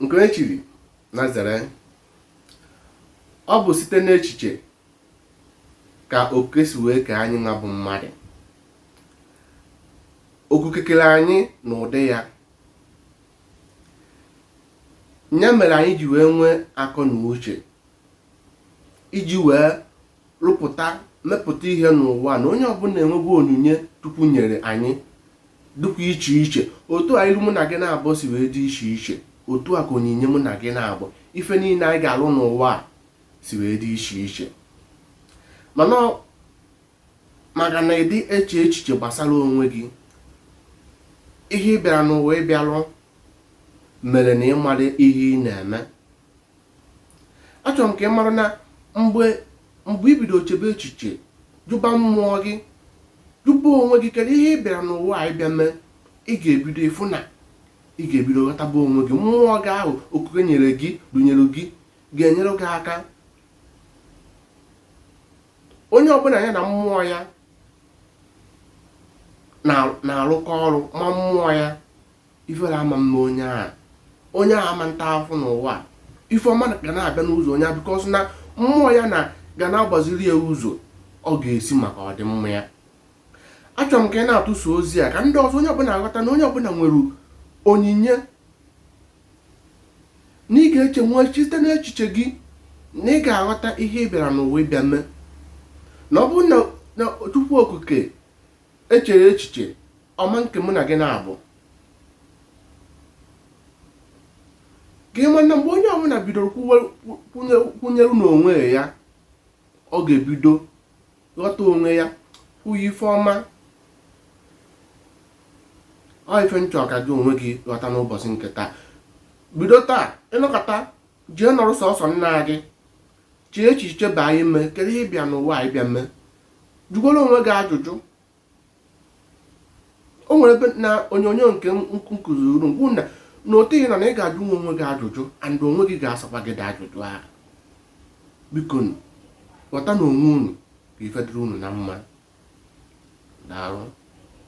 nke e chiri na zere ọ bụ site n'echiche ka Okike si wee kee anyị nwa bụ mmadụ Okike kere anyị na ụdị ya ya mere anyị ji wee nwee akọ na uche iji wee rụpụta mepụta ihe n'ụwa na onye ọbụla enwego onyinye Chukwu nyere anyị dịkwa iche iche otu a ilu mụ na gị naabọ si wee dị iche iche otu a ka onyinye mụ na gị naabọ ife niile anyị ga-alụ n'ụwa a si wee dị iche iche mana maka na ị dị eche echiche gbasara onwe gị ihe ị bịara n'ụwa ịbịa lụ mere na ị marọ ihe ị na-eme achọrọ m ka ị mara na mgbe mgbe i bido chebe echiche jụba mmụọ gị jụba onwe gị kedu ihe ị bịara n'ụwa a ịbịa mee ị ga-ebido ịfụ na ị ga-ebido ghọtaba onwe gị mmụọ gị ahụ Okike nyere gị dunyere gị ga-enyere gị aka onye ọbụla ya na mmụọ ya na- na-arụkọ ọrụ ma mmụọ ya Ifere ama eme onye ahụ. Onye ahụ ama ata ahụhụ n'ụwa a. Ife ọma ga na-abịa n'ụzọ onye ahụ because na mmụọ ya na ga na-agbaziri ya ụzọ ọ ga-esi maka ọdịmma ya. Achọrọ m ka ị na-atụsa ozi a ka ndị ọzọ onye ọbụla ghọta na onye ọbụla nwere onyinye na ị ga-eche nwee site n'echiche gị na ị ga-aghọta ihe ị bịara n'ụwa ịbịa mee na ọ bụrụ na Chukwu Okike echere echiche ọma nke mụ na gị naabọ gị mana mgbe onye ọbụla bidoro kwenyere n'onwe ya ọ ga-ebido ghọta onwe ya kwuye ife ọma ọ ife m chọ ka gị onwe gị ghọta n'ụbọchị nke taa bido taa ị nọkata jee nọrọ sọsọ nna gị chee echiche baa ime kedu ihe ị bịa n'ụwa a ịbịa mee jụgoro onwe gị ajụjụ o nwere ebe na onyonyo nke m kụziri m gwa unu na otu ihe na na ị ga-ajụnwu onwe gị ajụjụ and onwe gị ga-asakwa gị ụdị ajụjụ ahụ bikonụ ghọta na onwe unu ka ife dịrị unu na mma daalụ